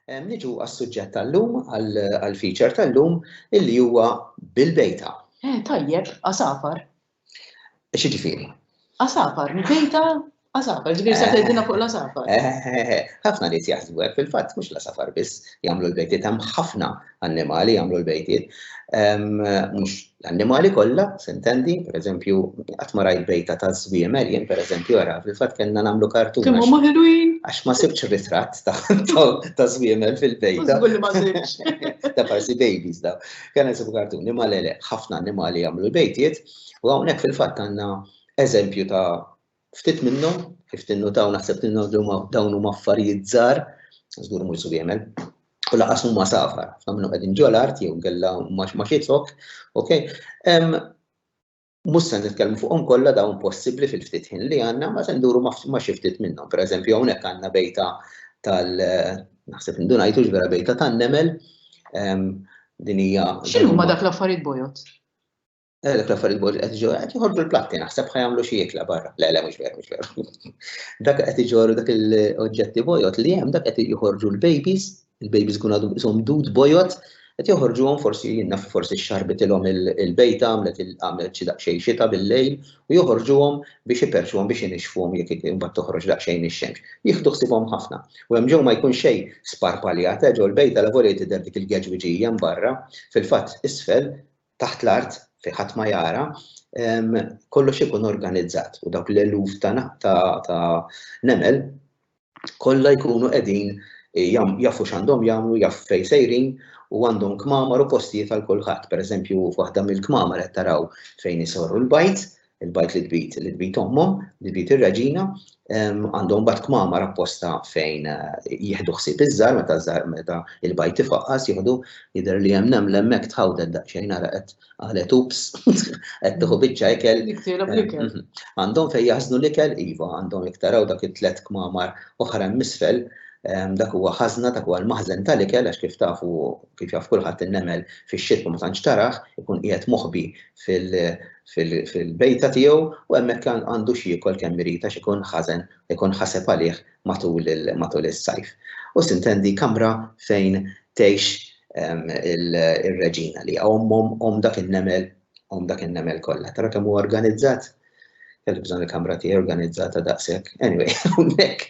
Niġu għas-suġġett tal-lum, għall-feature tal-lum, illi huwa bil-bejta. Eh, tajjeb, għasafar. Xi ġifieri? Għasafar, bejta għasafar, ġifieri se tgħidilna fuq l-għasafar. Eh, eh, eh, ħafna nies jaħsbu hekk fil-fatt mhux l-għasafar biss jagħmlu l-bejtiet hemm ħafna annimali jagħmlu l-bejtiet. Mhux L-annimali kollha, sintendi, pereżempju, qatt ma rajt bejta ta' żwiemel, jien pereżempju ara, fil-fatt kellna nagħmlu kartun. Kemm huma ħelwin? Għax ma sibx ritratt ta' żwiemel fil-bejta. Żgur li ma sibx. Ta' parsi babies daw. Kien isib kartuni, ma le le, ħafna annimali jagħmlu l-bejtiet, u hawnhekk fil-fatt għandna eżempju ta' Ftit minnhom, kif tinnutaw naħseb tinnutaw dawn huma affarijiet żgħar, żgur mhux żwiemel, u laqas huma safar, ħafna minnhom qegħdin ġol art jew kellha ma xitħok, ok? Mhux se nitkellmu fuqhom kollha dawn possibbli fil-ftit ħin li għandna, ma se nduru ma xi ftit minnhom. Pereżempju hawnhekk għandna bejta tal naħseb indunajtu vera bejta tan-nemel. Din hija. X'inhuma dak l-affarijiet bojod? Eh, dak l-affarijiet bod qed iġorru, qed jħorġu l-platti, naħseb ħajamlu xi jikla barra. Le, le, mhux veru, mhux veru. Dak qed iġorru dak l-oġġetti bojot li hemm dak qed joħorġu l-babies, il-babies kun għadhom ishom dud bojot, qed joħorġuhom forsi jinnna forsi xarbitilhom il-bejta għamlet għamlet xi daqsxejn xita bil-lejl u joħorġuhom biex iperċuhom biex inixfuhom jekk imbagħad toħroġ daqsxejn ix-xemx. Jieħdu ħsibhom ħafna. U hemm ġew ma jkun xejn sparpaljat, eh, ġew l-bejta la volej tidher dik il-geġwiġija barra, fil-fatt isfel taħt l-art fejn ħadd ma jara, kollox ikun organizzat u dawk l-eluf ta' nemel kollha jkunu qegħdin jafu x'għandhom jagħmlu, jafu fejn sejrin u għandhom kmamar u postijiet għal kulħadd. Pereżempju, waħda mill-kmamar qed taraw fejn isorru l-bajt, il-bajt li tbid, li tbid ommhom, li tbid ir-raġina, għandhom bat kmamar apposta fejn eh, jieħdu ħsieb iż-żar meta żar meta il-bajt ifaqqas jieħdu jidher li hemm neml hemmhekk tħawded daqsxejn ara qed qalet ups qed tieħu biċċa ikel. Eh, għandhom fejn jaħżnu l-ikel iva, għandhom iktaraw dak it-tlet kmamar oħra misfel dak huwa ħażna dak huwa l-maħżen tal-ikel għax kif tafu kif jaf kulħadd in-nemel fix-xitwa ma tantx taraħ ikun qiegħed moħbi fil- fil-bejta tiegħu u hemmhekk għandu x'jiekol kemm irid għax ikun ħażen, ikun ħaseb għalih matul is-sajf. U sintendi kamra fejn tgħix ir-reġina li hija ommhom, omm dak in-nemel, omm dak in-nemel kollha. Tara kemm hu organizzat? Kelli bżonn il-kamra tiegħi organizzata daqshekk. Anyway, hawnhekk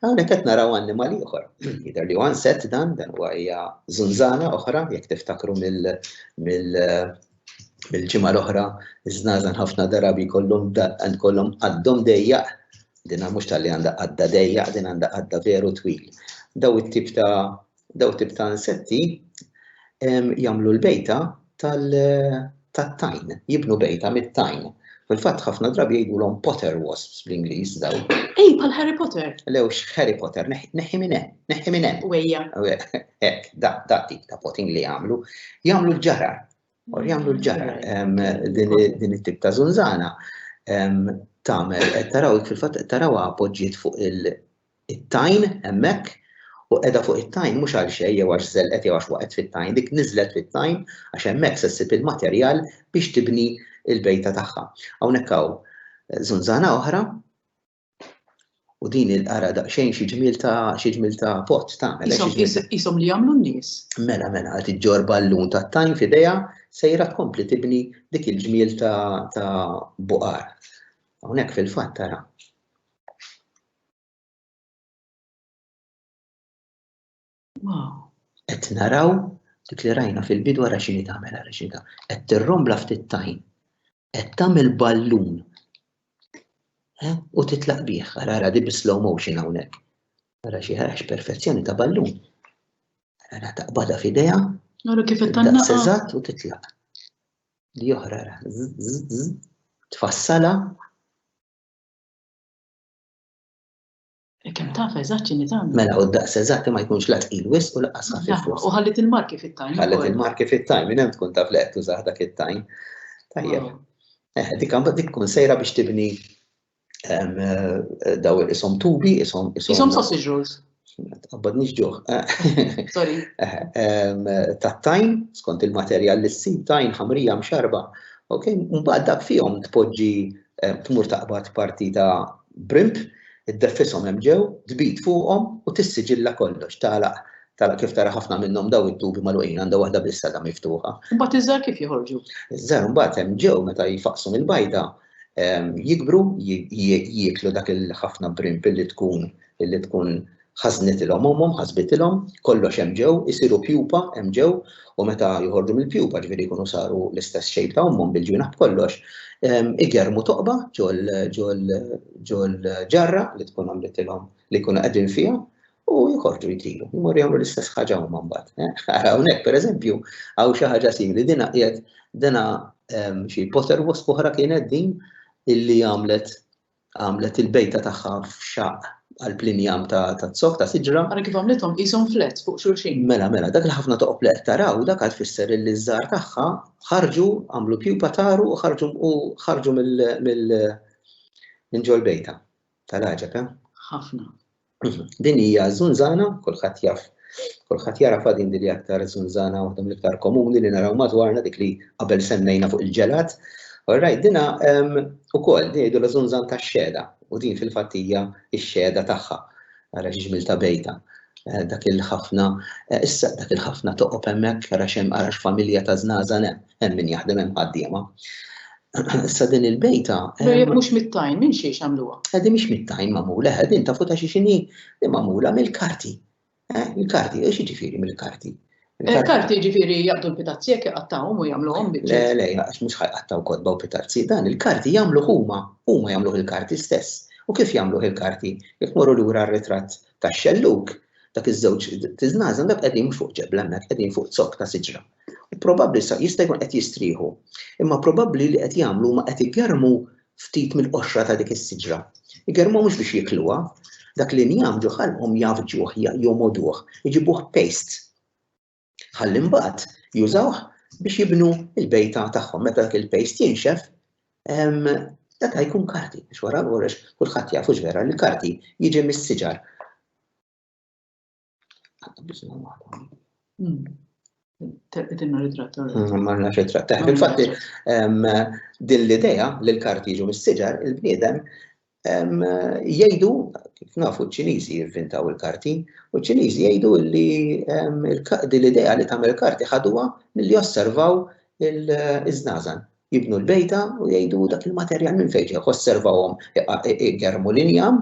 hawnhekk qed naraw annimal ieħor. Jidher li għan set dan, dan huwa hija żunżana oħra, jekk tiftakru mill Bil-ġimgħa l-oħra, iż-żnażan ħafna darabi jkollhom kollhom qaddhom dejjaq, din mhux tal-li għandha qadda dejjaq, din għandha qadda veru twil. Daw it-tip ta' daw tip ta' insetti jagħmlu l-bejta tat-tajn, jibnu bejta mit-tajn. Fil-fatt ħafna drabi jgħidulhom Potter wasps bl-Ingliż dawn. Ej, bħal Harry Potter. Le hux Harry Potter, neħħi minn hemm, neħħi minn hemm. Wejja. Hekk, dak dak tip ta' potting li jagħmlu. Jagħmlu l-ġara. Or jagħmlu l-ġara din it-tip ta' żunżana tagħmel qed taraw fil-fatt qed tarawha poġġiet fuq il- it-tajn hemmhekk u qiegħda fuq it-tajn mhux għal xejn jew għax żelqet jew għax waqgħet fit-tajn, dik niżlet fit-tajn għax hemmhekk se ssib il-materjal biex tibni l-bejta tagħha. Hawnhekk hawn żunżana oħra u din il-qara daqsxejn xi ġmiel ta' xi ġmiel ta' pott tagħmel. Ishom li jagħmlu n-nies. Mela mela qed iġġor ballun tat-tajn f'idejha sejra tkompli tibni dik il-ġmiel ta' buqar. Hawnhekk fil-fatt tara Qed naraw dik li rajna fil-bidu għara xini tagħmel għara xini ta' Qed tirrombla ftit tajn. Qed tagħmel ballun. Eh, u titlaq bih, għara għara di bi slow motion hawnhekk. Għara xi ħarax perfezzjoni ta' ballun. Għara taqbada f'idea. Għara kif qed tagħmel. Seżat u titlaq. Di oħra għara. Tfassala. Kemm taf eżatt x'inhi tagħmel. Mela, u d-daqs eżatt ma jkunx la tqil wis u laqqas ħafif wis. U ħallit il-marki fit-tajn. Ħallit il-marki fit-tajn, minn hemm tkun taf li qed tużah dak it-tajn. Tajjeb. Eh, dik għandha dik tkun sejra biex tibni eh, daw isom tubi, isom isom. Isom sausage rolls. Għabbadnix ġuħ. Sorry. Tat-tajn, skont il-materjal li s-sid tajn ħamrija mxarba. Ok, mbagħad dak fihom tpoġġi tmur taqbad parti ta' brimp, id-deffisom hemm ġew, tbid fuqhom u tissiġilla kollox tagħlaq tara kif tara ħafna minnhom daw it-tubi magħluqin għandha waħda biss għadha miftuħa. Imbagħad iż-żar kif joħorġu? Iż-żar imbagħad hemm ġew meta jfaqsu mill-bajda jikbru, jieklu dak il-ħafna brimp li tkun li tkun ħażnitilhom ommhom, ħasbitilhom, kollox hemm ġew, isiru pjupa hemm ġew, u meta joħorġu mill-pjupa ġifieri jkunu saru l-istess shape ta' ommhom bil-ġwienaħ b'kollox, igermu toqba ġol-ġarra li tkun għamlitilhom li jkunu qegħdin fiha, u jħorġu jtiru, jmorru jagħmlu l-istess ħaġa huma mbagħad. Eh? Ara hawnhekk pereżempju hawn xi ħaġa simili dina qiegħed dina ehm, xi poter wasp oħra kienet din illi għamlet għamlet il-bejta tagħha f'xaq għal-plinjam ta' t-sok ta' siġra. Għara kif għamlitom jisom flet fuq xurxin. Mela, mela, dak l-ħafna ta' oplet taraw, dak għad fisser li zzar taħħa ħarġu għamlu pjupa taru u ħarġu u ħarġu mill-ġol bejta. Tal-għaġeb, eh? Ħafna. Din hija żunżana, kulħadd jaf Kulħadd jara fadin li aktar zunzana waħda mill-iktar komuni li naraw madwarna dik li qabel semmejna fuq il-ġelat. Alright, dina ukoll din jgħidu l-żunzan tax-xeda u din fil-fattija x-xeda tagħha ara ġiġmil ta' bejta eh, dak il-ħafna, eh, issa dak il-ħafna toqob hemmhekk għara xem għara familja ta' żnażan hemm min jaħdem hemm ħaddiema. Issa din il-bejta. Jek mux mit-tajn, minn xiex għamluwa? Għadi mux mit-tajn mamula, għadin ta' futa xie xini li mamula mill-karti. Eh, mill-karti, u xie ġifiri mill-karti? Il-karti ġifiri jgħaddu l-pitazzjek jgħattawum u jgħamlu għom bieċi. Le, le, għax mux ħajqattaw kodba u pitazzi, dan il-karti jgħamlu huma, huma jgħamlu il-karti stess. U kif jgħamlu il-karti? Jek morru l-ura r-retrat ta' xelluk, dak iż-żewġ tiznazan dak qegħdin fuq ġebla hemmhekk qegħdin fuq zok ta' siġra. U probabbli sa jista' jkun qed jistrieħu. Imma probabbli li qed jagħmlu huma qed igermu ftit mill-qoxra ta' dik is-siġra. Igermu mhux biex jikluha, dak li njam ġo ħalqhom jafġuh, jomoduh, iġibuh paste. Ħalli mbagħad jużawh biex jibnu l-bejta tagħhom. Meta dak il-paste jinxef, dak jkun karti, biex wara l-għorex kulħadd jafu vera li karti jiġi mis-siġar. Tinna ritratta. Mm, Marna ritratta. Eh, infatti, din l-ideja li l-karti jiġu mis-siġar, il-bniedem jgħidu, kif nafu ċ-Ċiniżi jivvintaw il-karti, u ċ-Ċiniżi jgħidu li din l-ideja li tagħmel karti ħaduha milli osservaw il-żnazan. jibnu l-bejta u jgħidu dak il-materjal minn fejn ġew, osservawhom igermu l-injam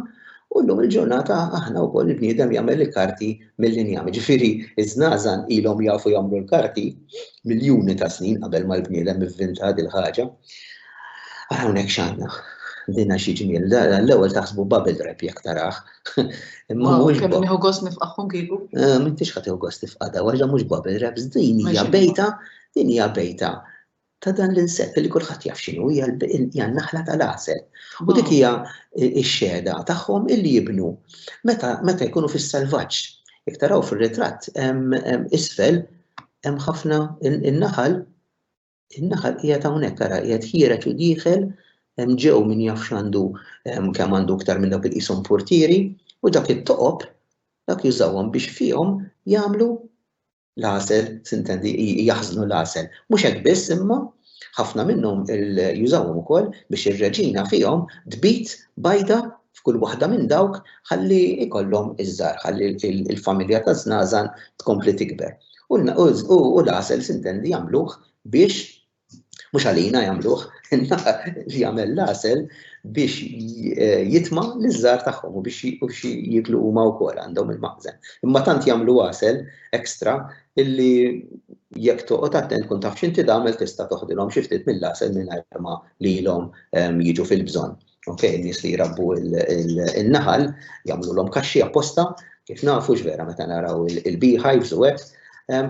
u llum il-ġurnata aħna wkoll il-bniedem jagħmel il-karti mill-injam. Ġifieri ż-żnażan ilhom jafu jagħmlu l-karti miljuni ta' snin qabel ma l-bniedem ivvinta din ħaġa. Ara hawnhekk x'għandna. Dinna xi ġmiel. L-ewwel taħsbu bubble wrap jekk tarah. Imma mhux. Kemm nieħu gost nifqaħhom kieku? Eh, m'intix ħadd gost nifqada, waħda mhux bubble wrap, din hija bejta, din hija bejta ta' dan l-insett li kulħadd jaf x'inhu hija n-naħla tal-għasel. U dik hija x-xehda tagħhom illi jibnu meta jkunu fis-selvaġġ. Jekk taraw fir-ritratt isfel hemm ħafna in-naħal in-naħal qiegħed hawnhekk ara qiegħed ħiereġ u dieħel hemm ġew min jaf x'għandu kemm għandu iktar minn dawk il-qishom portieri u dak it-toqob dak jużawhom biex fihom jagħmlu l-għasel, sintendi, jaħżnu l-għasel. Mhux hekk biss imma ħafna minnhom jużawhom ukoll biex ir-reġina fihom tbit bajda f'kull waħda minn dawk ħalli ikollhom iż-żar, ħalli il-familja ta' żnażan tkompli tikber. U l-għasel sintendi jagħmluh biex Mhux għalina jagħmluh, in-naħa li jagħmel l-għasel biex eh, jitma' liż-żgħar tagħhom u biex jiklu huma wkoll għandhom il-maqżen. Imma tant jagħmlu għasel ekstra illi jekk toqgħod attent kun taf x'inti tagħmel tista' toħdilhom xi ftit mill-għasel mingħajr ma lilhom ehm, jiġu fil-bżonn. Ok, nies li jrabbu il-naħal, jagħmlu l-om kaxxi apposta, kif nafu vera meta naraw il-beehives u għet,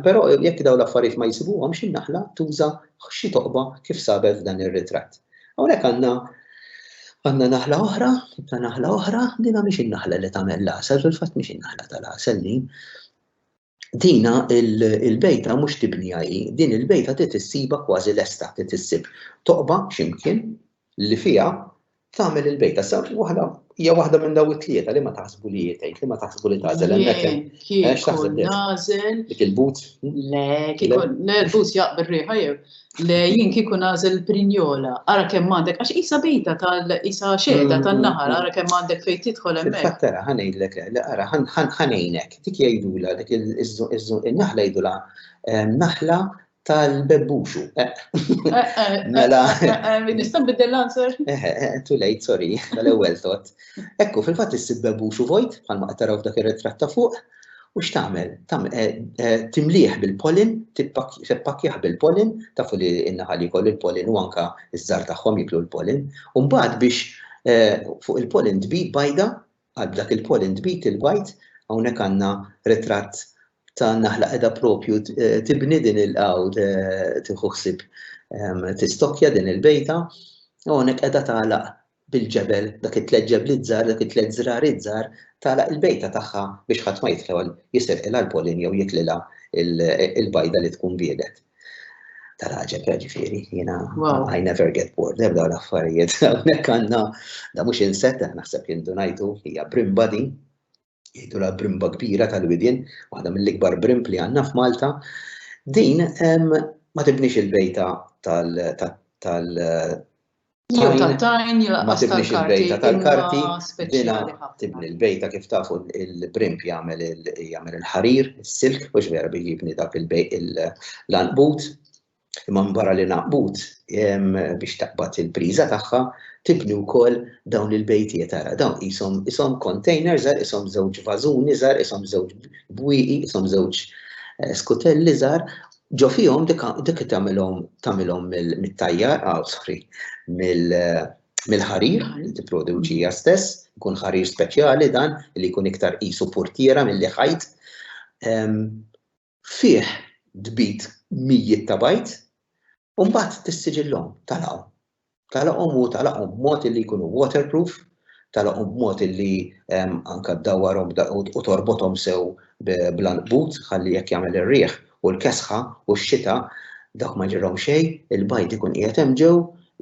pero jekk daw l-affarijiet ma jisibuhom xi naħla tuża xi toqba kif sabet dan ir-ritratt. Hawnhekk għandna għandna naħla oħra, ta' naħla oħra, dina mhix in-naħla li tagħmel l-għasel, fil-fatt mhix in-naħla tal-għasel din. dina il-bejta mhux tibni hi, din il-bejta trid issiba kważi lesta, trid issib toqba x'imkien li fiha tagħmel il-bejta. Sa waħda hija waħda minn daw it-tlieta li ma taħsbu li jitgħid, li ma taħsbu li tażel hemmhekk. X'taħseb nażel? Dik il-but? Le, kieku nervus jaqbel riħa jew. Le jien kieku nażel prinjola, ara kemm għandek għax isa bejta tal-isa xehda mm, tan-naħar, mm, mm. ara kemm għandek fejn tidħol hemmhekk. Fattara ħanejdlek, ara ħanejnek. dik jgħidulha dik in-naħla jgħidulha naħla tal-bebbuxu. Mela. Nista' nbiddel l-answer? Too late, sorry, tal-ewwel tot. Ekku, fil-fatt issib bebbuxu vojt, bħalma qed taraw f'dak ir-ritratt ta' fuq, u x'tagħmel? Timlieħ bil-pollen, tippakkjaħ bil-pollen, tafu li n-naħal jkollu l-pollen u anka ż-żar tagħhom jiklu l-pollen, u mbagħad biex fuq il-pollen tbid bajda Għal dak il-poll intbid il-bajd, hawnhekk għandna ritratt ta' naħla qiegħda propju tibni din il u tieħu ħsieb tistokkja din il-bejta. U hawnhekk qiegħda tagħlaq bil-ġebel, dak it-tliet ġebliet żgħar, dak it-tliet żrariet żgħar, tagħlaq il-bejta tagħha biex ħadd ma jidħol jisirqilha l-pollen jew jitlilha l-bajda li tkun biedet. tal-ħagġeb, ġifiri, jina, I never get bored, ebda l-affarijiet, għonek għanna, da mux inset, naħseb jindunajtu, hija brimba di, jgħidu la brimba kbira tal-widin, waħda mill-ikbar brimb li għanna f'Malta, din ma tibnix il-bejta tal Jew tal-tajn, jew ma tibnix il-bejta tal-karti, dina tibni l-bejta kif tafu il-primp jagħmel il-ħarir, is-silk, mhux vera biex jibni dak l-anqbut. Imma barra li naqbut biex taqbad il-priża tagħha, tibni wkoll dawn il-bejtiet ara, dawn isom isom container żgħar, isom żewġ vażuni żgħar, isom żewġ bwieqi, isom żewġ eh, skutelli żgħar Ġo fihom dik tagħmilhom tagħmilhom mit-tajjar għawsħri mill-ħarir li tipproduċi hija stess, ikun ħarir speċjali dan li jkun iktar qisu purtiera milli ħajt. Fih tbid mijiet ta' bajd u mbagħad tissiġillhom, talgħu. Tagħlaqhom u tagħlaqhom b'mod illi jkunu waterproof, tagħlaqhom b'mod illi anke ddawwarhom u torbothom sew bl-għanqbut ħalli jekk jagħmel ir-riħ u l-kesħa u x-xita dawk ma jġralhom xejn, il-bajd ikun qiegħed hemm ġew,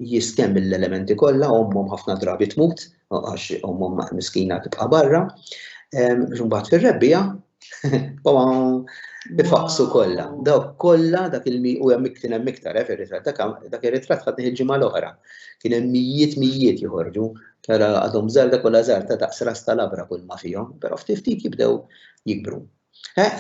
jistenn mill-elementi kollha, ommhom ħafna drabi tmut għax ommhom miskina tibqa' barra, imbagħad fir-rebbiegħa Ifaqsu kollha, dawk kollha dak il-mi u hemm kien hemm iktar eh, fir-ritratt dak ir-ritratt ħadni il-ġimgħa l-oħra. Kien hemm mijiet mijiet joħorġu, tara għadhom żgħar dak kollha żgħar ta' daqs ras tal-abra kull ma fihom, però ftit ftit jibdew jikbru. Eh?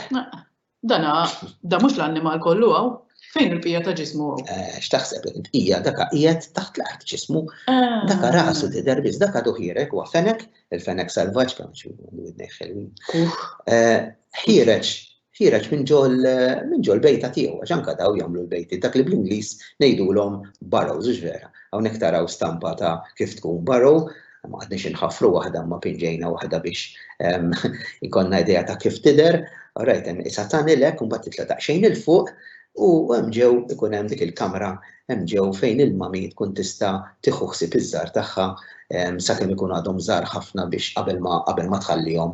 Dana, da mhux l-annimal kollu hawn, fejn il-pija ta' ġismu hawn? Eh, x'taħseb int hija daka qiegħed taħt l-art ġismu, eh. daka rasu tidher biss, daka duħierek huwa fenek il-fenek salvaġġ kemm xi widnej ħelwin. Eh, ħireġ ħireġ minn ġol minn ġol bejta tiegħu għax anke daw jagħmlu l-bejti dak li bl-Ingliż ngħidulhom barrows hux vera. Hawnhekk taraw stampa ta' kif tkun barrow ma għadniex inħafru waħda ma pinġejna waħda biex ehm, ikonna idea ta' kif tider, rajt hemm isa tanilek u mbagħad titla' daqsxejn il fuq U hemm ġew ikun hemm dik il-kamra hemm ġew fejn il-mami tkun tista' tieħu ħsieb iż-żgħar tagħha sakemm ikun għadhom żgħar ħafna biex qabel ma qabel ma tħallihom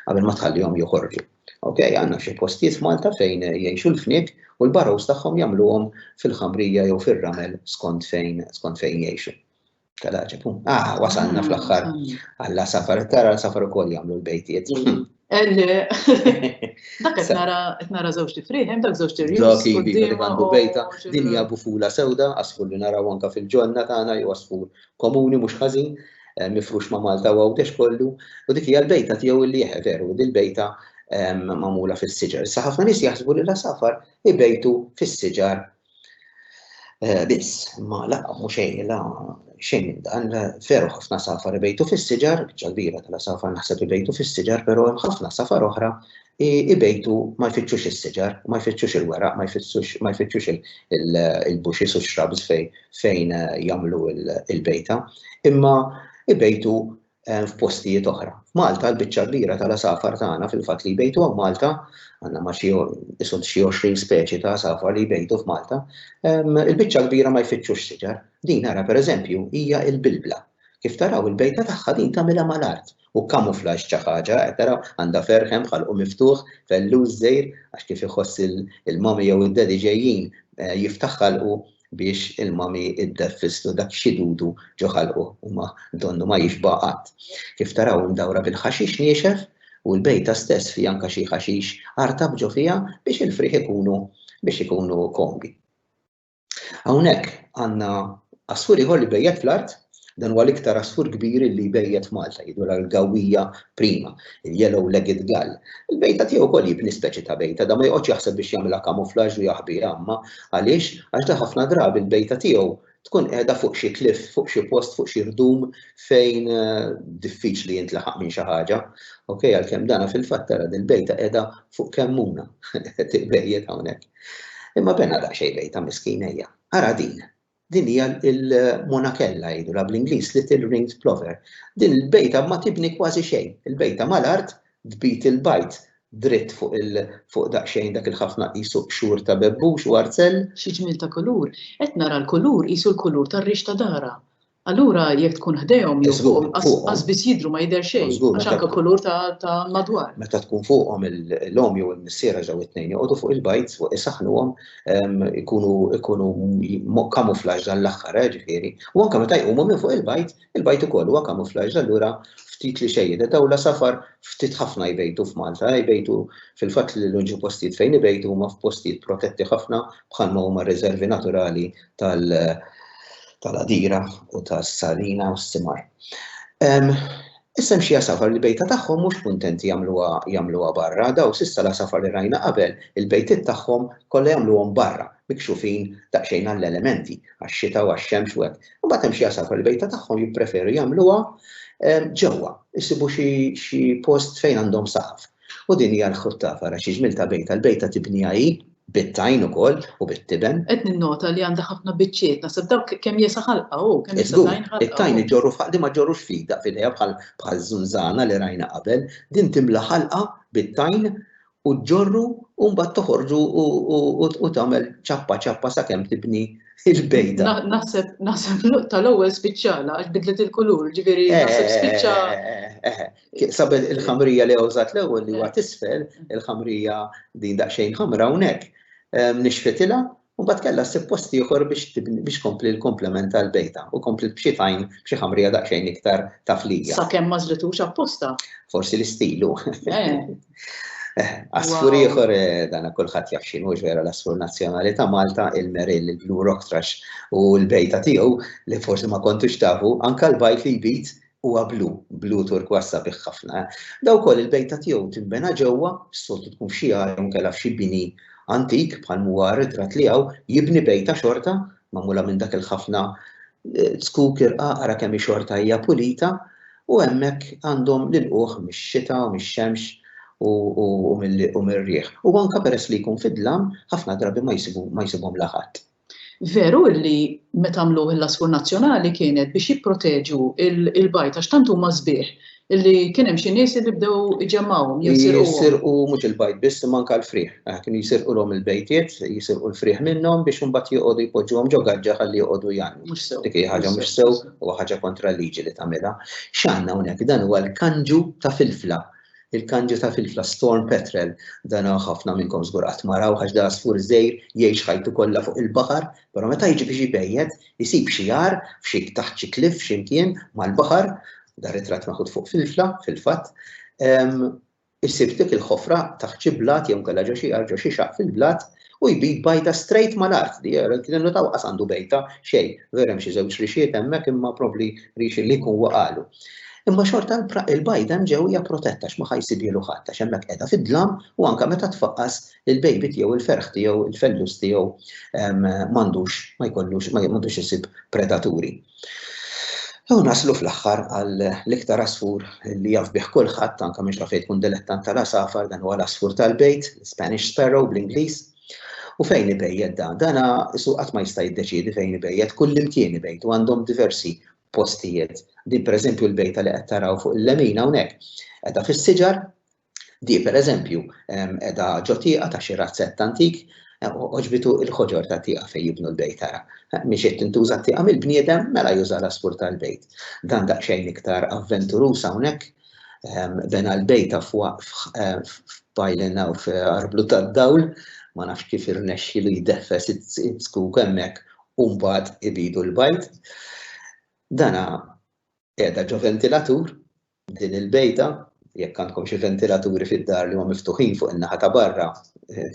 qabel ma tħallihom joħorġu. Ok, għandna xi postijiet f'Malta fejn jgħixu l-fniek u l-barrows tagħhom jagħmluhom fil-ħamrija jew fir-ramel skont fejn skont fejn jgħixu. Kadaċi, pum. Ah, wasalna fl-axħar. Għalla mm. safar, tara safar u koll jamlu l-bejtiet. Mm. Dak qed nara qed nara żewġ tifrieħ, hemm dak żewġ tirjus. Dak ivi li għandu bejta, din hija bufula sewda, asfur li naraw anka fil-ġonna tagħna jew asfur komuni mhux ħażin, eh, mifrux ma' Malta u għawdex kollu, u dik hija l-bejta tiegħu li jeħe veru, din bejta ehm, mamula fis-siġar. Sa ħafna nies jaħsbu li la safar ibejtu fis-siġar Eh, biss, ma la, mhux xejn, la, xejn minn dan, veru ħafna safar ibejtu fis-siġar, ċalbira tal safar naħseb ibejtu fis-siġar, però hemm ħafna safar oħra ibejtu ma jfittxux is-siġar, ma jfittxux il-weraq, ma jfittxux il-buxis u x-xrabs fejn eh, jagħmlu il-bejta, imma ibejtu f'postijiet oħra. F'Malta l-biċċa l-kbira tal-għasafar tagħna fil-fatt li jbejtu hawn Malta, għandna ma' xi isod xi 20 speċi ta' għasafar li jbejtu f'Malta, il-biċċa l-kbira ma jfittxux siġar. Din ara pereżempju hija l-bilbla. Kif taraw il-bejta tagħha din tagħmilha mal-art u kamuflaġġ ta' ħaġa, qed taraw, għandha ferħ hemm b'ħalqu miftuħ, fellus żgħir, għax kif iħoss il-mommy jew id-daddy ġejjin jiftaħ ħalqu biex il-mami iddef fisslu dak xidudu ġo ħalqu u ma donnu ma jixba' qatt. Kif taraw imdawra bil-ħaxix niexef u l-bejta stess fiha anka xi ħaxix artab ġo fiha biex il-frieħ ikunu biex ikunu komdi. Hawnhekk għandna għasfur ieħor li bejjet fl-art Dan huwa l-iktar għasfur kbir illi jbejjet f'Malta, jidhru l-gawwija prima, il-yellow-legged gull. Il-bejta tiegħu wkoll jibni speċi ta' bejta, dan ma joqgħodx jaħseb biex jagħmilha camouflage u jaħbiha imma għaliex? Għax dan ħafna drabi l-bejta tiegħu tkun qiegħda fuq xi cliff, fuq xi post, fuq xi ħdum fejn diffiċli jintlaħaq minn xi ħaġa. Okej, għalkemm dana fil-fatt tara din bejta qiegħda fuq kemmuna, tiqbejjed hawnhekk. Imma bena daqsxejn bejta miskina hija. Ara din. Din hija l-monakella jgħidulha bl-Ingliż little ringed plover. Din il-bejta ma tibni kważi xejn. Il-bejta mal-art tbid il-bajd dritt fuq il fuq daqsxejn dak il-ħafna qisu qxur ta' bebbux u arzell. Xi ġmiel ta' kulur! Qed nara l-kulur qisu l-kulur tar-rix ta' darha. Allura jekk tkun ħdejhom jew fuqhom qas biss jidhru ma jidher xejn għax anke kulur ta' ta' madwar. Meta tkun fuqhom l-omm jew il-missier għax dawn it-tnejn joqogħdu fuq il-bajd fuq isaħħnuhom ikunu kamuflaġġ dan l-aħħar, ġifieri, u anke meta jqumu minn fuq il-bajd, il-bajd ukoll huwa kamuflaġġ allura ftit li xejn jidher. Dawn l-għasafar ftit ħafna jbejtu f'Malta, jbejtu fil-fatt li l-uniċi postijiet fejn ibejtu huma f'postijiet protetti ħafna bħalma huma r-riżervi naturali tal-Għadira u tas-Salina u s-Simar. Issa hemm xi għasafar li bejta tagħhom mhux kuntenti jagħmluha jagħmluha barra, daw s'issa l-għasafar li rajna qabel, il-bejtiet tagħhom kollha jagħmluhom barra, mikxufin daqsxejn għall-elementi, għax-xita u għax-xemx u hekk. Imbagħad hemm xi għasafar li bejta tagħhom jippreferu jagħmluha ġewwa, isibu xi xi post fejn għandhom saqaf. U din hija l-ħuttafa, ara xi ġmiel ta' bejta, l-bejta tibniha hi, Bit-tajn ukoll u bit-tiben. Qed ninnota li għandha ħafna biċċiet, naħseb dawk kemm jesa' ħalqha hu, kemm jesa' tajn ħalqha hu. Żgur, it-tajn iġorru f'ħalqna ma jġorrux f'idha f'idejha bħal bħal żunżana li rajna qabel, din timla ħalqha bit-tajn u ġġorru u mbagħad toħorġu u tagħmel ċappa ċappa sakemm tibni l-bejda. Naħseb naħseb l-luqta l-ewwel spiċċala għax bidlet il-kulur, ġifieri naħseb spiċċa. Sabel il-ħamrija li għawżat l-ewwel li huwa tisfel, il-ħamrija din daqsxejn ħamra hawnhekk, ehm, nixfitila u bat kellha ssib post ieħor biex kompli l-komplement tal-bejta u kompli b'xi tajn b'xi ħamrija daqsxejn iktar taflija. Sakemm ma żlitux apposta. Forsi l-istilu. Eh. Eh, asfur ieħor eh, dana kulħadd jaf x'inhu ġvera l-asfur nazzjonali ta' Malta, il-Meril, il-Blue Rock Trash u l-bejta tiegħu li forsi ma kontux tafu, anka l-bajt li jbit Huwa blu, blu turkważ sabiħ ħafna. Daw ukoll il-bejta tiegħu tinbena ġewwa, s-soltu tkun f'xi għar jew inkella f'xi bini antik bħal m'huwa r-ritratt li hawn, jibni bejta xorta magħmula minn dak il-ħafna zkuk irqaq ara kemm hi xorta hija pulita u hemmhekk għandhom l-ilqugħ mix-xita u mix-xemx u mir-riħ. U anke peress li jkun fid-dlam, ħafna drabi ma jsibhom la ħadd. Veru li meta għamluh il-Laskur Nazzjonali kienet biex jipproteġu l-bajt għax tant huma sbieħ li kien hemm xi nies li bdew iġemmgħuhom jew isirquhom. Jisirqu mhux il-bajt biss imma anke l-frieħ. Kienu jsirqulhom il-bejtiet, jisirqu l-frieħ minnhom biex imbagħad joqogħdu jpoġġuhom ġo gaġġa ħalli joqogħdu jgħannu. Mhux sew. Dik hi ħaġa mhux sew u ħaġa kontra l-liġi li tagħmilha. X'għandna hawnhekk? Dan huwa l-kanġu ta' filfla. Il-kanġi ta' filfla Storm Petrel, dan ħafna minnkom żgur qatt ma raw għax dan għasfur żgħir jgħix ħajtu kollha fuq il-baħar, però meta jiġi biex ibejjed isib xi għar f'xi taħt xi cliff x'imkien mal-baħar, dan ritratt maħud fuq filfla fil-fatt, isib dik il-ħofra taħt xi blat jew inkella ġo xi għar ġo xi xaqq fil-blat U jbid bajta straight mal-art, di hija, kien innutaw qas għandu bejta, xejn, veru hemm xi żewġ rixxiet hemmhekk imma probbli rixxi li jkun waqagħlu. Imma xorta l-bajda hemm ġew hija protetta għax ma ħa jsibhielu ħadd għax hemmhekk qiegħda fid-dlam u anke meta tfaqqas il-baby tiegħu il-ferħ tiegħu il-fellus tiegħu m'għandux ma jkollux m'għandux isib predaturi. U naslu fl-aħħar għal l-iktar asfur li jaf bih kulħadd, anke mhux fejn tkun dilettant tal-għasafar, dan huwa l-asfur tal-bejt, Spanish sparrow bl-Ingliż. U fejn ibejjed dan? Dana isu qatt ma jista' jiddeċiedi fejn ibejjed, kullimkien ibejt u għandhom diversi postijiet. Din pereżempju l-bejta li qed taraw fuq il-lemin hawnhekk. Qiegħda fis-siġar, Di, per eżempju, edha ġo tieqa ta' xi razzett antik, oġbitu il-ħoġor ta' tieqa fejn jibnu l-bejt tara. Mixiet tintuża tieqa mill-bniedem mela juża l-għasfur tal-bejt. Dan daqsxejn iktar avventurus hawnhekk, bena l-bejt f'pajlin hawn f'Arblu tad-Dawl, ma nafx kif irnexxielu jdeffes iz-zkuk hemmhekk u mbagħad ibidu l-bajt. Dana Qiegħda ġo ventilatur din il-bejta, jekk għandkom xi ventilaturi fid-dar li huma miftuħin fuq in-naħa ta' barra,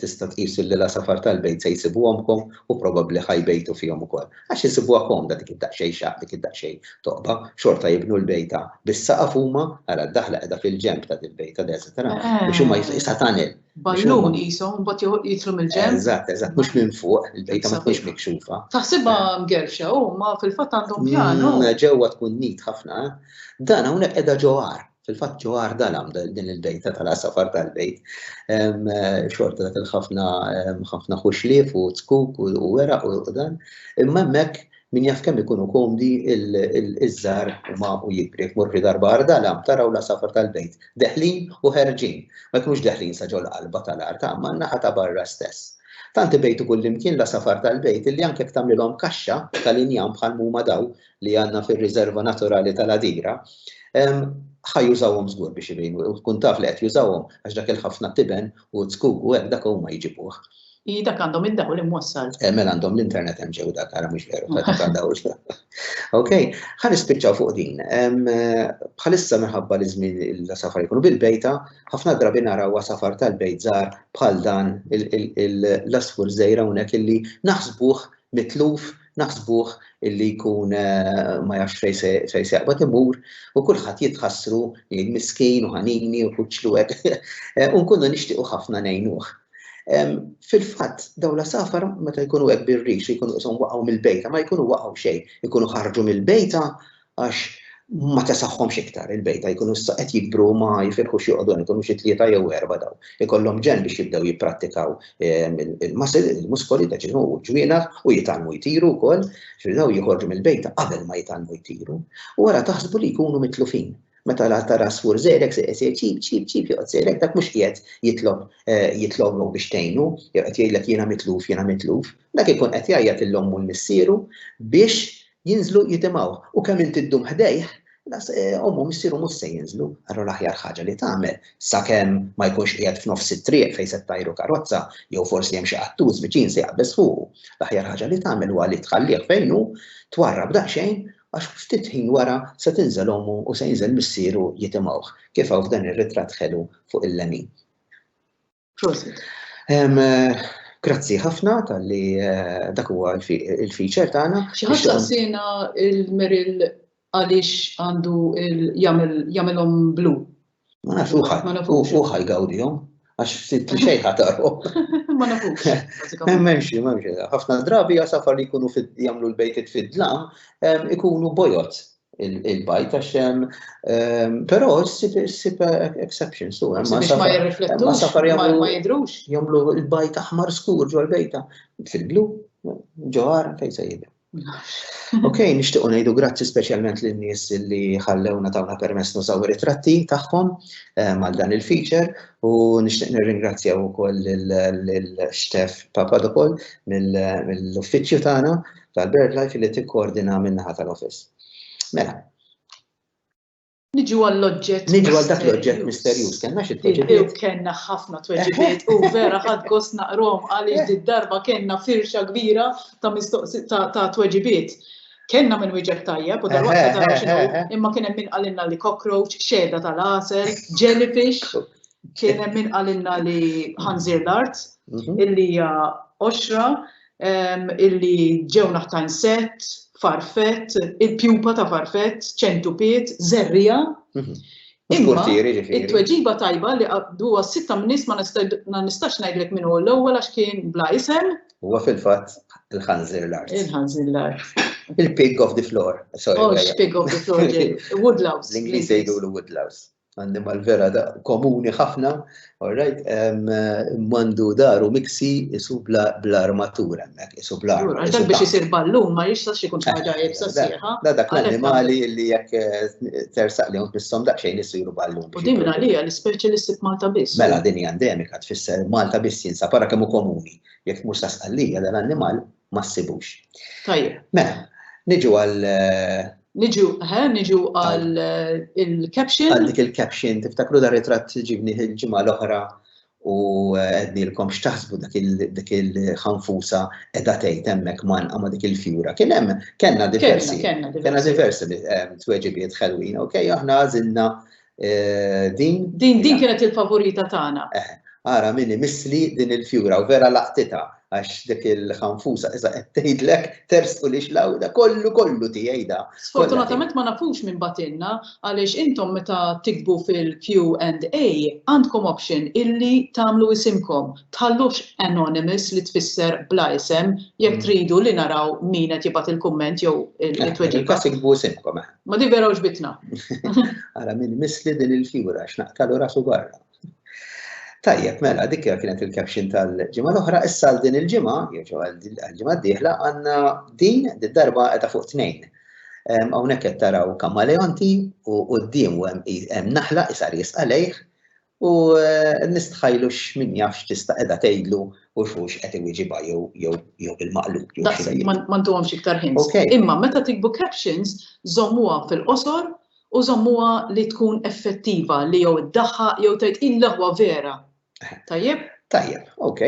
tista' tqis li l-għasafar tal-bejt se jsibuhomkom u probabbli ħa jbejtu fihom ukoll. Għax isibuha komda dik id-daqsxejn xaqq, dik id-daqsxejn toqba, xorta jibnu l-bejta bis-saqaf huma, ara d-daħla qiegħda fil-ġenb ta' dil-bejta, biex huma, is-satanel, Ballun qisu, mbagħad joħ- jidħlu mill-ġenb. Eżatt, eżatt, mhux minn fuq, il-bejta ma tkunx Sabiħ. mikxufa. Taħsibha mgerfxa u ma fil-fatt għandhom pjan u. Mm, Ġewwa tkun nit ħafna. Dan hawnhekk qiegħda ġo għar. Fil-fatt ġo għar dalam da- din il-bejta tal-għasafar tal-bejt. Em, eh, Xorta dak il-ħafna em, ħafna ħuxlief u tkuk u u weraq u u dan. Imma hemmhekk Min jaf kemm ikunu komdi iż-żgħar huma u jikbri. Jekk morru darba għar dalam taraw l-għasafar tal-bejt deħlin u ħerġin. Ma jkunux deħlin sa ġol qalba tal-art imma n-naħa ta' barra stess. Tant ibejtu kullimkien l-għasafar tal-bejt illi anke jekk tagħmlilhom kaxxa tal-injam bħal m'huma daw li għandna fir-riżerva naturali tal-Għadira, ħa jużawhom żgur biex ibejnu u tkun taf li qed jużawhom għax dak il-ħafna tiben u zkuk u hekk dak huma jġibuh. I dak għandhom id-dawl li mwassal. Eh, mela għandhom l-internet hemm ġew dak għara mhux veru ta' għandaw. Ok, ħan ispiċċaw fuq din. Bħalissa minħabba li żmien il-safar jkunu bil-bejta, ħafna drabi naraw safar tal-bejt żgħar bħal dan l-asfur żejra hawnhekk illi naħsbuh mitluf naħsbuh illi jkun eh, ma jafx fej se jaqbad imur u kulħadd jitħassru jgħid miskin u ħanini u kuċċlu hekk eh, u nkunu nixtiequ ħafna ngħinuh. Fil-fatt, daw la safar meta jkunu hekk birrix jkunu qishom waqgħu mill-bejta, ma jkunu waqgħu xejn, jkunu ħarġu mill-bejta Għax ma tesaħħomx iktar il-bejta jkunu issa qed jikbru ma jifirħux joqogħdu hemm ikunu xi tlieta jew erba' daw. Ikollhom ġenn biex jibdew jipprattikaw ehm, il-muscle, il-muskoli ta' ġismu u ġwienaħ u jitgħallmu jtiru wkoll, xi daw joħorġu mill-bejta qabel ma jitgħallmu jtiru. U wara taħsbu li jkunu mitlufin meta la tara sfur zerek se jsir ċip ċip ċip joqgħod zerek dak mhux qiegħed jitlob eh, jitlob biex tgħinu, jew qed jgħidlek jiena mitluf, jiena mitluf, Dak ikun qed jgħajjat lil ommu u l-missieru biex jinżlu jitimgħuh, u kemm inti ddum ħdejh, las, ommu u missieru mhux se jinżlu, allura l-aħjar ħaġa li tagħmel, sakemm ma jkunx qiegħed f'nofs it-triq fejn se ttajru karozza, jew forsi hemm xi qattus viċin se jaqbeż fuqu, l-aħjar ħaġa li tagħmel huwa li tħallih fejn hu, twarrab daqsxejn, għax ftit ħin wara se tinżel ommu u se jinżel missieru jitimgħuh, kif hawn f'dan ir-ritratt ħelu fuq il-lemin. Prosit. Grazzi ħafna tal-li eh, dak huwa il-feature tagħna. Xi ħadd saqsina il-meril għaliex għandu jagħmilhom blu. Ma nafx uħaj, uħaj gawdihom, għax ftit li xejn ħatarhom. Ma nafux. Memxi, memxi, ħafna drabi għasafar li jkunu jagħmlu l-bejtit fid-dlam, ikunu bojot, il-bajt għax hemm ehm, però ssib exceptions tu hemm ma jirriflettu ma safar jagħmlu ma jidrux jagħmlu l-bajt aħmar skur ġol bejta fil-blu ġoħar fejn se jidher. Ok, nixtiequ ngħidu grazzi speċjalment lin nies li ħallewna tawna permess nużaw ritratti tagħhom ehm, għal dan il-feature u nixtieq nirringrazzjaw ukoll lil Stef Papadopol mill-uffiċċju tagħna tal-BirdLife li tikkoordina min-naħa tal-Office. Mela. Niġu għall-oġġett. Niġu għal dak l-oġġett misterjuż. Kellna xi tweġibiet. Kellna ħafna tweġibiet u vera ħadd gost naqrom għaliex eh. darba kellna firxa kbira ta' mistoqsi ta' tweġibiet. Kellna minn wieġeb tajjeb u darba eh, ta' eh, imma kien hemm min qalilna li cockroach, xeda tal-għasel, jellyfish, kien hemm min qalilna li ħanżir l-art, mhm. illi hija oxra, illi ġew naħtajn sett, farfett, il-pjupa ta' farfett, ċentupiet, żerriegħa. Imma it-tweġiba tajba li huwa sitta mnies ma nistax ngħidlek min hu l-ewwel għax kien bla isem. Huwa fil-fatt il-ħanżir l-art. Il-ħanżir l-art. Il-pig of the floor. Oh, pig of the floor. Woodlouse. L-Ingliż jgħidulu woodlouse. Annimal vera da komuni ħafna, all right, mandu daru miksi isu bl-armatur hemmhekk, isu bl-armatur. Għax dak biex isir ballun ma jistax ikun ħaġa jibsa sieħa. Da dak l-annimali li jekk eh, tersaq li hawn nissom daqsxejn isiru ballun. U din għalija l-ispeċi li ssib Malta biss. Mela din hija endemika tfisser Malta biss jinsa para kemm komuni. Jekk mhux sa sqallija dan l-annimal ma ssibux. Tajjeb. Mela, niġu għal eh, Niġu, ħe, niġu għal eh, il-caption. Għal dik il-caption, tiftakru dar ritratt ġibni il-ġimgħa l-oħra u eh, għednilkom xtaħsbu dak il-ħanfusa edha tgħid hemmhekk man għama dik il-fjura. Kien hemm kellna diversi. Kellna diversi li eh, tweġibiet ħelwin, ok, aħna għażilna Eh, din. Din din kienet il-favorita tagħna. Eh, ara minni misli din il-fjura u vera laqtita għax dik il-ħanfusa iżda qed tgħidlek tersqu li xlawda kollu kollu tiegħi da. Sfortunatament ma nafux minn batinna għaliex intom meta tikbu fil-Q&A għandkom option illi tagħmlu isimkom. Tħallux anonymous li tfisser bla isem jekk mm. tridu li naraw min qed jibgħat il-kumment jew eh, il-tweġiba. Kas ikbu isimkom. Eh. Ma di vera uġbitna. Għara minn misli din il-figura, x'naqtalu rasu barra. Tajjeb, mela, dik kienet il-caption tal-ġimgħa l-oħra, issa għal din il-ġimgħa, jew għal-ġimgħa d-dieħla, għandna din darba qiegħda fuq tnejn. Hawnhekk qed taraw kamaleonti u quddiem hemm naħla isar jisqalejh U nistħajlu x'min jaf x'tista' qiegħda tgħidlu u x'hux qed iwieġibha jew jew jew bil-maqlub jew xi. Daqshekk, ma ntuhomx iktar hints. Ok. Imma meta tiktbu captions, żommuha fil-qosor u żommuha li tkun effettiva li jew iddaħħaq jew tgħid il-leħwa vera. Tajjeb? Tajjeb, ok.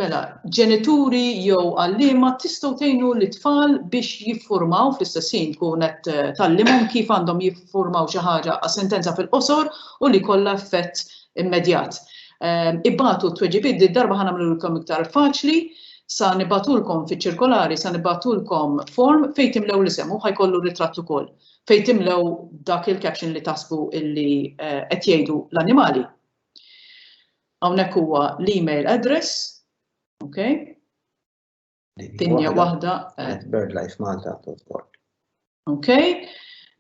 Mela, ġenituri jew għalliema tistgħu tgħinu lit-tfal biex jiffurmaw fl-istess ħin tkun qed eh, tallimhom kif għandhom jiffurmaw xi ħaġa għas sentenza fil-qosor u li kollha effett immedjat. Ehm, Ibatu t-tweġibiet di darba ħana mlulkom iktar faċli, sa nibatulkom fi ċirkolari, sa nibatulkom form fejn timlew l-isem u ħajkollu ritratt ukoll. Fejn timlew dak il-caption li tasbu illi eh, qed jgħidu l-annimali. Hawnhekk huwa l-email address, okay? Dinja waħda. At birdlifemalta.org. Okay?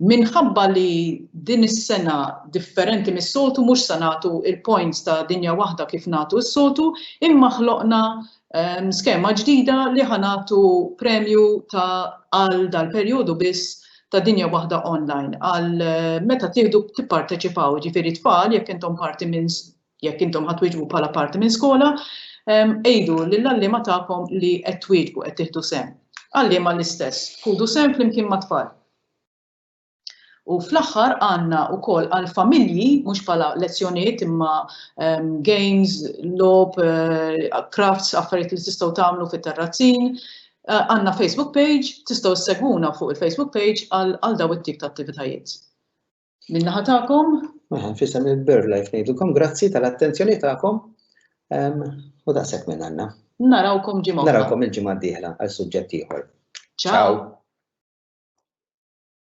Minħabba li din is-sena differenti mis-soltu mhux se nagħtu il-points ta' dinja waħda kif nagħtu s-soltu, imma ħloqna ehm, skema ġdida li ħanatu premju ta' għal dal-perjodu biss ta' dinja waħda online għal eh, meta tieħdu tipparteċipaw ġifieri tfal jekk intom parti minn Jekk intom ħa twieġbu bħala parti minn skola, għidu lill-għalliema tagħkom li qed twieġbu, qed tieħdu sehem. Għalliema l-istess, ħudu sehem flimkien mat-tfal. U fl-aħħar għandna wkoll għal familji mhux bħala lezzjonijiet imma ehm, games, lob, eh, crafts, affarijiet li tistgħu tagħmlu fit-terrazzin. Eh, għandna Facebook page, tistgħu segwuna fuq il-Facebook page għal daw it-tip ta' attivitajiet. Min-naħa tagħkom? Mela, fissem il-BirdLife ngħidulkom grazzi tal-attenzjoni tagħkom u daqshekk minn għandna. Narawkom ġimgħa. Narawkom il-ġimgħa d-dieħla għal suġġett ieħor. Ciao.